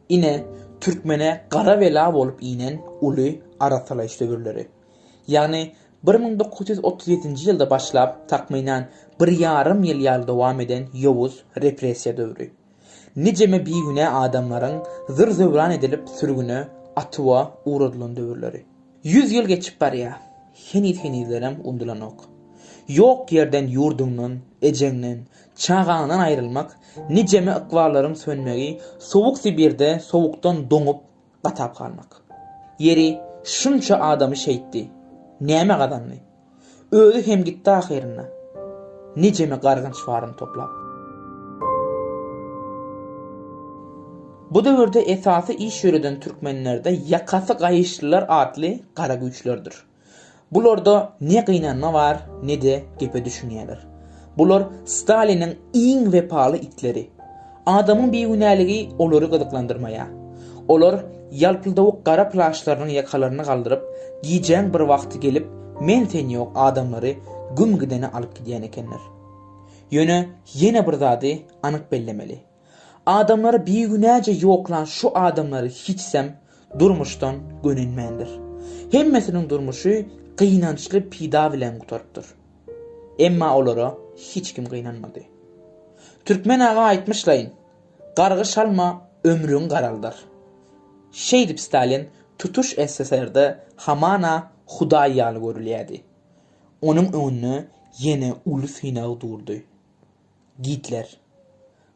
Ine, türkmene gara bela bolup inen uly arassalaýyş döwürleri. Ýagny bir müň dokuz ýüz otuz ýedinji ýylda başlap, takmynan, bir ýarym ýyl ýaly dowam eden ýowuz repressiýa döwri. Nijeme bigünä adamlaryň zyr-zöwran edilip sürgüne, atuwa, ugradylan döwürleri. Ýüz ýyl geçip barýar. Heniz-henizlerem undulanok. Ýok ýerden ýurduňdan, ejeňden, çagaňdan aýrylmak, nijeme ykballaryň sönmegi, sowuk Sibirde sowukdan doňup, gatap galmak. Ýeri, şunça adamy şeýtdi. Näme gazandy? Özi hem gitdi ahyrynda. Nijeme gargynç baryny toplap. Bu döwürde esasy iş ýöreden türkmenlerde ýakasy gaýyşlylar atly gara güýçlerdir. Bularda ne gynanma bar, ne-de gepe düşünýärler. Bular Staliniň iň wepaly itleri. Adamyň bigünäligi olary gyzyklandyrmaýar. Olar ýalpyldawuk gara plaşlarynyň ýakalaryny galdyryp, gijäň bir wagty gelip, men-sen ýok adamlary güm gidene alyp gidýän ekenler. Ýöne ýene bir zady anyk bellemeli. Adamlary bigünäje ýoklan şu adamlary hiçsem durmuşdan gönenmändir. Hemmesiniň durmuşy gynançly pida bilen gutarypdyr. Emma olara hiç kim gynanmady. Türkmen aga aýtmyşlaýyn, Gargyş alma, ömrüň garaldyr. Şeýdip Stalin tutuş SSR-de hamana hudaý ýaly görülýärdi. Onuň öňünde ýene uly synag durdy. Gitler.